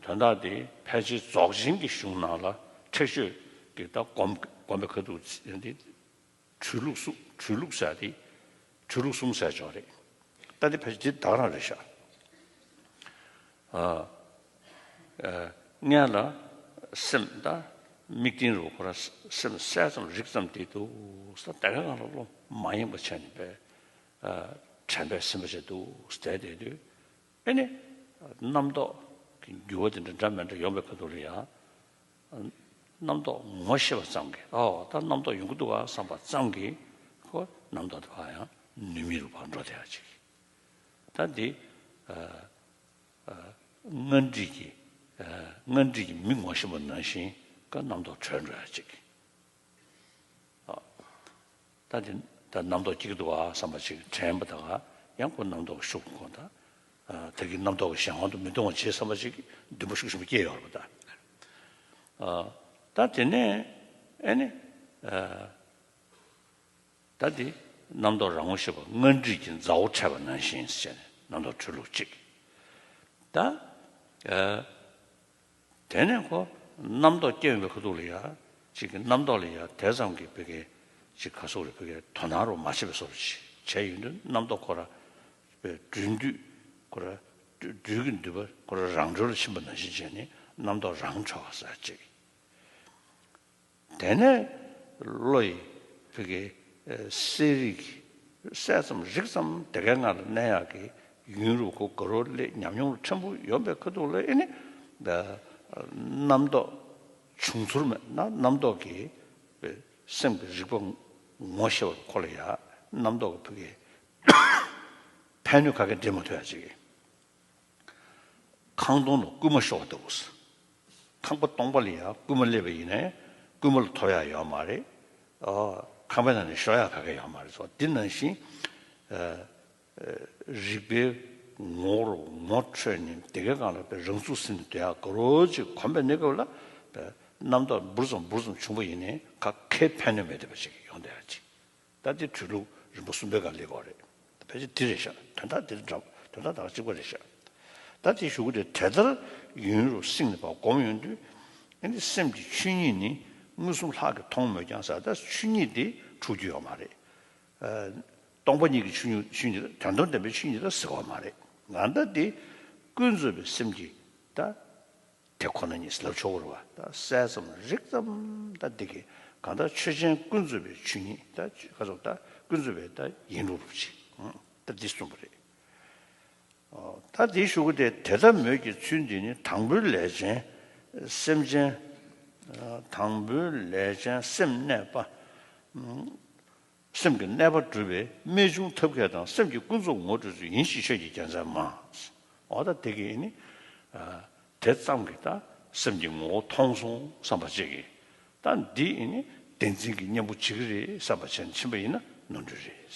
དོན་དག་འདི་ཕལ་ཆེར་རྫོགས་ཆེན་གྱི་གཞུང་ནང་ལ་ཁྲེགས་ཆོད་ཀྱི་ལྟ་སྒོམ་པའི་ཁ་ཐུག་ཅན་ཏེ། གྲོལ་ལུགས་གྲོལ་ལུགས་ཟེར་ཏེ། གྲོལ་ལུགས་གསུམ་ཟེར་ཆོག་རེད། ལྟ་འདི་ཕལ་ཆེར་འདི་དག་རང་རེད་ཤག། མངལ་ལ་སེམས་དང་དམིགས་རྟེན་རུ་འཁོར་སེམས་གསལ་ཙམ་རིག་ཙམ་དེ་འདུག་ས་དེ་ག་གང་ལ་བློ་མ་ཡེངས་པ་བྱས་ནས་དྲན་པའི་སེམས་པ་བྱས་འདུག་ཟླས་བསྡད་དུས་དཔེ་ནི། རྣམ་རྟོག་གི་འགྱུ་བ་དེ་འདྲ་འདྲ་མི་འདྲ་ཡོང་བའི་ཁ་ཐུག་རེད་ཡ། རྣམ་རྟོག་ངོ་ཤེས་པ་ཙམ་གྱིས་ཨོ་ད་རྣམ་རྟོག་ཡོང་གི་འདུག་ག་བསམ་པ་ཙམ་གྱིས་ཁོ་རྣམ་རྟོག་དེ་བག་ཡངས་ནུས་མེད་རུ་བག་འགྲོ་བསྡད་ཅིག་གི། ད་འདི་སྔར་འདྲིས་ཀྱི་སྔར་འདྲིས་ཀྱི་མི་ངོ་ཤེས་པ་ནང་བཞིན་ག་རྣམ་རྟོག་བྲོས་འགྲོ་ཡ་ཅིག་གི། ད་དེ་ལྟར་རྣམ་རྟོག་གཅིག་ཏུ་བ་བསམ་པ་ཅིག་དྲན་པ་དག་ཡང་སྒོ་རྣམ་རྟོག་ཤུགས་དགོངས་དང། དེ་གིས་རྣམ་རྟོག་གི་གཞན་དབང་དུ་མི་ལྟུང་བར་བྱེད་བསམ་པ་ཅིག་བདུན་པོ་ཤུགས་ཆེན་པོ་སྐྱེ་ཡོང་བ་ལྟར། ད་དེ་ནས་ཨེ་ནི། ད་དེ་རྣམ་རྟོག་རང་ངོ་ཤེས་པ་སྔར་འདྲིས་ཀྱི་མཛའ་བོ་འཕྲད་པ་ནང་བཞིན་བྱས་ནས་རྣམ་རྟོག་འཁྲུལ་ལུགས་གཅིག། ད། དེ་ནས་ཁོ་རྣམ་རྟོག་སྐྱེ་ཡོང་པའི་ཁ་ཐུག་ལ་ཡ། ཅིག་གི་རྣམ་རྟོག་ལ་ཡ་དེ་ཙམ་གྱིས་བོད་སྐད་ཅིག་ག་སོགས་ལ་བོད་སྐད་དོ་སྣང་རོགས་མ་བྱེད་པའི་སོགས་པ་ཅིག་བྱས་ཡོད་འདུག་རྣམ་རྟོག་ཁོ་ར་བའི་སྦྲུལ་མདུད་ཁོ་ར་སྦྲུལ་གྱི་མདུད་པ་ཁོ་ར་རང་སྦྲུལ་ལ་ཕྱིན་པ་ནང་བཞིན་བྱས་ནས་རྣམ་རྟོག་རང་འཕྲོ་བ་ཟ་ཅིག། དེ་ནས་བློ་ཡི་བུ་གའི་གསལ་རིག་གི་གསལ་ཙམ་རིག་ཙམ་དེ་གའི་ངང་ལ་གནས་ཡག་གི་ཡུན་རུ་གུ་གུ་རུ་ལས་ཉམས་མྱོང་ལ་ཕྲན་བུ་ཡོང་པའི་ཁུ་ཐུག་ལ་ཨེ་ནི། རྣམ་རྟོག་བྱུང་ཚུར་མེད་ན་རྣམ་རྟོག་གི་བུ་སེམས་ཀྱི་རིག་པ་ངོ་ཤེས་པར་གོ་ལ་ཡག་རྣམ་རྟོག་གི་བུ་གའི་ཕན་ནུས་ག་གེ་འདྲེས་མ་ཐུབ་ཡག་ཅིག། ཁང་སྟོང་ལ་རྐུན་མ་ཤོར་བ་འདུག་གསུངས། ཁང་པ་སྟོང་པ་ལ་ཡང་རྐུན་མ་སླེབས་པ་ཡིན་ནས་རྐུན་མ་ལ་ཐོབ་ཡག་ཡོད་མ་རེད། ཁང་པའི་ནང་ནས་ཤོར་ཡག་ག་གེ་ཡོད་མ་རེད་ཟེར་བ་འདི་ནང་བཞིན་རིག་པའི་ངོ་བོར་ངོ་འཕྲོད་ནས་དེ་གའི་སྒང་ལ་རང་ཚུགས་ཟིན་ནས་སྡོད་ཡག་ག་རོ་ཅིག་གོམས་པའི་གནས་སྐབས་ལ་རྣམ་དག་འབུར་ཙམ་འབུར་ཙམ་བྱུང་བ་ཡིན་ནས་ག་གེ་ཕན་ནུས་མེད་འདོད་པ་ཅིག་ཡོང་སྡོད་ཡག་ཅིག་ད་ལྟའི་འཕྲུལ་ལུགས་རིམ་པ་གསུམ་པའི་སྒང་ལས་གོ་རེད། ཕལ་ཆེར་དེ་རེད་ཤག་དོན་དག་འདིར་འདྲ་དོན་དག་དག་གཅིག་པ་རེད་ཤག། ད་ལྟའི་ཞུ་སྒོ་དེ་དེ་ལྟར་ཡུན་རུ་བསྲིངས་ནས་པ་སྒོམ་ཡོང་དུས། ཨེ་འདི་སེམས་ཀྱི་ཆོས་ཉིད་ནི་མངོན་སུམ་ལྷག་གིས་མཐོང་མོད་ཀྱང་ཟ་ད་ཆོས་ཉིད་དེ་འཁྲུག་རྒྱུ་ཡོད་མ་རེད། སྟོང་པ་ཉིད་ཀྱི་ཆོས་ཆོས་ཉིད་ད་དོན་དམ་པའི་ཆོས་ཉིད་ད་ཟེར་བ་མ་རེད། ང་ད་ལྟའི་ཀུན་རྫོབ་པའི་སེམས་ཀྱིས་ད། དེ་ཁོ་ན་ཉིད་ཟླ་བཅུ་བོར་བ་དང་གསལ་ཙམ་རིག་ཙམ་དང་འདི་སྐད་གང་དག་ཆོས་ཅན་ཀུན་རྫོབ་པའི་ཆོས་ཉིད་དག་ཀུན་རྫོབ་པའི་དག་ཡིན་རུང་རུང་ཅི། ད་འདི་གསུངས་པ་རེད། ད་འདི་ཞུ་གི་དེ་དེ་ལྟ་མོད་ཀྱི་ཚུལ་འདི་ནི་དང་པོའི་ལས་ཅན་སེམས་ཅན། དང་པོའི་ལས་ཅན་སེམས་གནས་པ། སེམས་ཀྱི་གནས་པ་སྒྲུབ་པའི་རྨད་བྱུང་ཐབས་མཁས་དང་སེམས་ཀྱི་ཀུན་རྫོབ་ངོ་སྤྲོད་ཚུལ་ཡིན་ཞེས་ཆོས་ཀྱི་རྒྱལ་མཚན་མ། འོ་ད་དེ་གིས་ནི། དེ་ཙམ་གྱིས་ད་སེམས་ཀྱི་ངོ་བོ་མཐོང་སོང་བསམ་པ་བྱེད་ཀྱི། ད་འདིས་ནི་བདེན་འཛིན་གྱི་གཉེན་པོ་བྱེད་ཀྱི་རེད་བསམ་པ་བྱེད་ན་ཕྱིན་པ་ཡིན་ན་ནོར་འཁྲུལ་རེད།